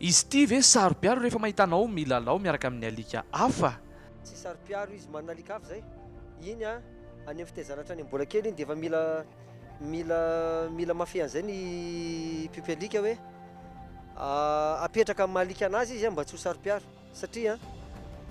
Izy ity ve saro-piaro rehefa mahita anao milalao miaraka amin'ny alika hafa? Tsy saro-piaro izy manana alika hafa izay. Iny any amin'ny fitaizana hatrany mbola kely iny dia efa mila mila mila mafy an'izay ny mpiompy alika hoe apetraka amin'ny maha alika an'azy izy mba tsy ho saro-piaro. Satria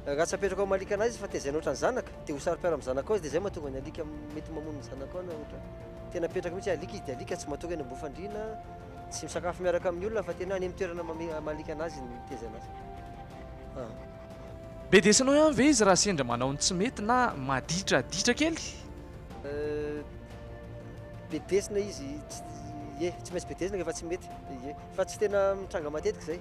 raha tsy apetraka ao amin'ny alikana izy fa tezaina ohatran'ny zanaka dia ho saro-piaro amin'ny zanakao izy dia izay mahatonga ny alika mety mamono ny zanakao na ohatra. Tena apetraka mihitsy hoe alika izy dia alika tsy matory any ambohim-fandriana, tsy misakafo miaraka amin'ny olona fa tena any amin'ny toerana maha-alikana azy ny tezaina azy. Ah. Bedesinao ihany ve izy raha sendra manao ny tsy mety na maditraditra kely? Bedesina izy, ye, tsy maintsy bedesina rehefa tsy mety, ye, fa tsy tena mitranga matetika izay.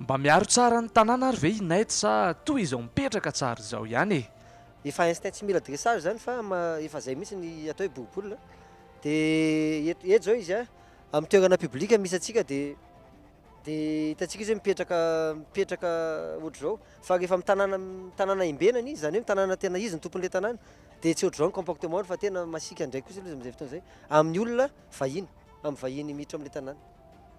Mba miaro tsara ny tanàna ary ve i Ned sa toa izao mipetraka tsara izao ihany e? Efa instinct tsy mila dressage zany fa efa zay mihitsy ny atao hoe boribola de eto eto zao izy amin'ny toerana public misy antsika de de hitantsika izy hoe mipetraka mipetraka ohatr'izao fa rehefa amin'ny tanàna amin'ny tanàna imbenany izy zany hoe tanàna tena izy ny tompon'ilay tanàna de tsy ohatr'izao ny comportement-ny fa tena masiaka ndray kosa izy amin'izay fotoana izay amin'ny olona vahiny amin'ny vahiny miditra amin'ilay tanàna.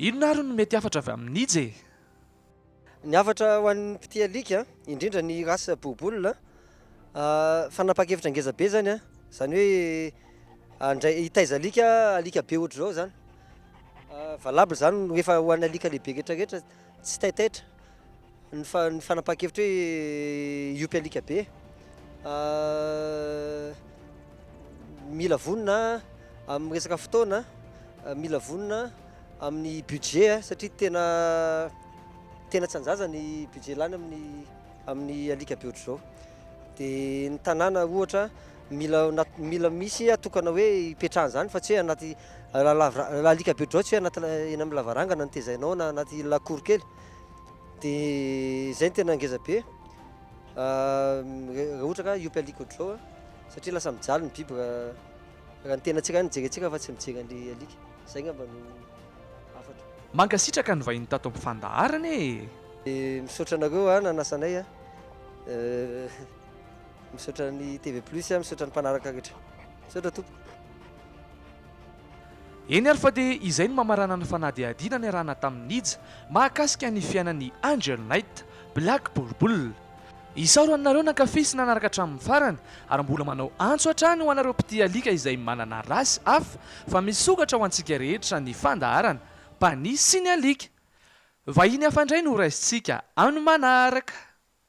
Inona ary no mety hafatra avy amin'ny nija e? Ny hafatra ho an'ny mpitia alika, indrindra ny race bouboule, fanapahan-kevitra ngeza be zany, zany hoe handray hitaiza alika, alika be ohatr'izao zany, valable zany rehefa ho an'ny alika lehibe retraretra, tsy taitaitra. Ny fanapahan-kevitra hoe hiompy alika be, mila vonona amin'ny resaka fotoana, mila vonona amin'ny budget satria tena tena tsy an-jaza ny budget lany amin'ny amin'ny alika be ohatr'izao. Dia ny tanàna ohatra mila mila misy atokana hoe hipetrahana izany fa tsy hoe anaty alika be ohatr'izao tsy hoe anaty eny amin'ny lavarangana no tezainao na anaty lakory kely. Dia izay no tena ngeza be raha ohatra ka hiompy alika ohatr'izao satria lasa mijaly ny biby raha ny tenantsika ihany no jerentsika fa tsy mijery an'ilay alika. Izay angamba no hafatra. Mankasitraka ny vahiny tato amin'ny fandaharana e! Misaotra anareo a nanasa anay a! Misaotra ny TV plus a, misaotra ny mpanaraka rehetra. Misaotra tompoko. Eny ary fa dia izay no mamarana ny fanadihadiana niarahana tamin'i Nija mahakasika ny fiainan'i Angel Knight, Black Bulbul. Isaorana anareo nankafy sy nanaraka hatramin'ny farany ary mbola manao antso hatrany ho anareo mpitia alika izay manana race hafa fa misokatra ho antsika rehetra ny fandaharana, Paniy sy ny alika. Vahiny hafa indray no ho raisintsika amin'ny manaraka.